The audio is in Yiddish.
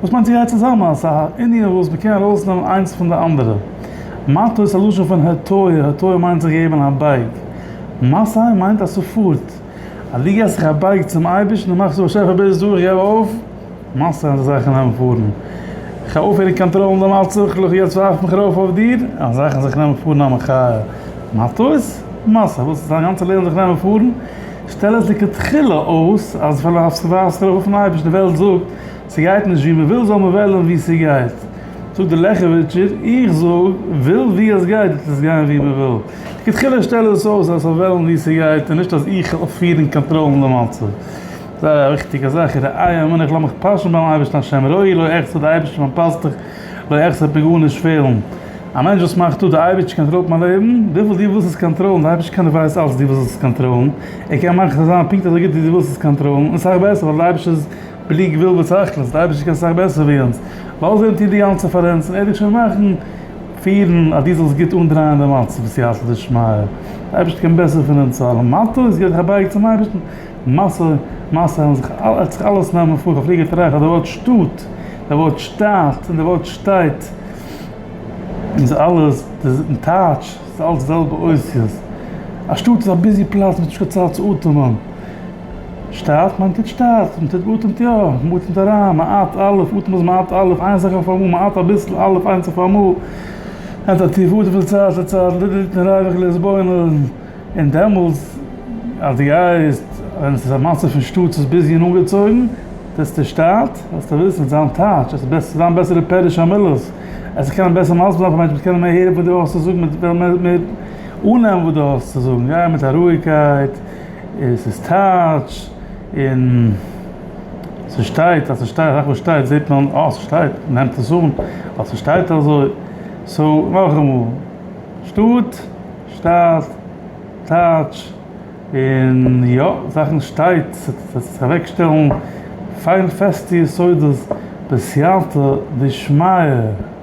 וואס מיינט זי גייט צוזאמען אז ס'איז א ענין וואס מ'קען ארויסנעמען איינס פון די אנדערע? מטה איז א לשון פון הטיה, הטיה מיינט זיך געבן א בייג, מסיים מיינט אז ס'פארט, אז דו געבסט זיך א בייג צום אייבערשטן און מאכסט צו באשעפער ביז דא איך געב אויף, מסיים אזא זאך אין נעמען פארן, איך האב אויפהעריג קאנטראלן די מצב, לכו יעצט ווארף מיך ארויף אויף דיר, א זאך אין זיך נעמען פארן א מחיה, מטה איז מסע, וואס איז דיין גאנצע לעבן זיך נעמען פארן? שטעל עס לכתחילה אויס אז פאר ווארפסט ארויף אויפן אייבערשטן די וועלט זאגט. ס'גייט נישט ווי מ'וויל זאל מען וועלן ווי ס'גייט, זאגט דער לעכעוויטשער, איך זאג, וויל ווי עס גייט וועט עס גיין ווי מ'וויל. לכתחילה שטעל עס אויס אז ס'זאל וועלן ווי ס'גייט און נישט אז איך זאל פירן און קאנטראלן די מצב. זייער א וויכטיגע זאך איז די איי אמינא איך לאז מיך פאשן ביים אייבערשטן השם רואי לא אחסר די אייבערשטער ווען מ'פאסט דיך לא אחסר וועט מיר גארנישט פעלן. א מענטש וואס מאכט אפ די אייבערשטער קאנטראלט מיין לעבן, וויפיל דו ווילסט עס קאנטראלן, די אייבערשטער קען דו ווייסט אלץ דו ווילסט עס קאנטראלן, ער קען מאכן עס זיין פונקט אזוי גוט ווי דו ווילסט עס קאנטראלן און סאך בעסער ווייל די אייבערשטער איז בלי גבול ותכלית, די אייבערשטער קען סאך בעסער ווי אונז, ווייל זיי האבן טון די גאנצע פאר אונז, און ער וועט שוין מאכן, פירן, אז דו זאלסט גוט אנדרייען די מצב בסייעתא דשמיא, די אייבערשטער קען בעסער פון אונז אלע, מה טוב איז געווען זיך אבייגען צום אייבערשטן, משא כ ער האט זיך אלעס נעמען פאר א פליגער טרייף אז די ווארט שטאט, די ווארט שטאַט, און די ווארט שטייט, איז אלעס די טייטש, ס'איז אלעס די זעלבע אותיות, א שטאט איז א ביזי פלאץ, מ'האט נישט קיין צייט צו אטעמען. שטאַרט, מיינט טוט שטאַרט, מען טוט אָטעמט יאָ, מען אָטעמט אַריין, מען אַט, א', אָטעם איז מען אַט, א', איין זאַך אויף אַ מאָל, מען אַט אַ ביסל, א', איינס אויף אַ מאָל, נעמט אַ טיף אָטעם פון צייט צו צייט, לע, ליט, נ, רייוועך, להתבונן, און דעמאָלט, אַז דו גייסט, ווען עס איז אַ מצב פון שטאָט, עס איז ביז יענע אָנגעצויגן, זעצטו שטאַרט, זאָלסטו וויסן, זיין טייטש, עס וועט זיין בעסערע פירוש המילות, עס וועט קענען בעסער מסביר זיין פאַר מענטשן, מ'וועט קענען מער הערן וואָס דו האָסט צו זאָגן, מ'וועט מער אָננעמען וואָס דו האָסט צו זאָגן, גיי מיט אַ רואיקייט. עס איז טייטש און ס'שטייט אז ס'שטייט אזאך וואס שטייט זעט מען אה ס'שטייט נעמט עס אן ווייל ס'שטייט אזוי סאו נאכאמאל שטאט שטייט טייטש און יא זאכן שטייט ס'טוט אוועקשטעלן פיין פעסטע יסודות בסייעתא דשמיא.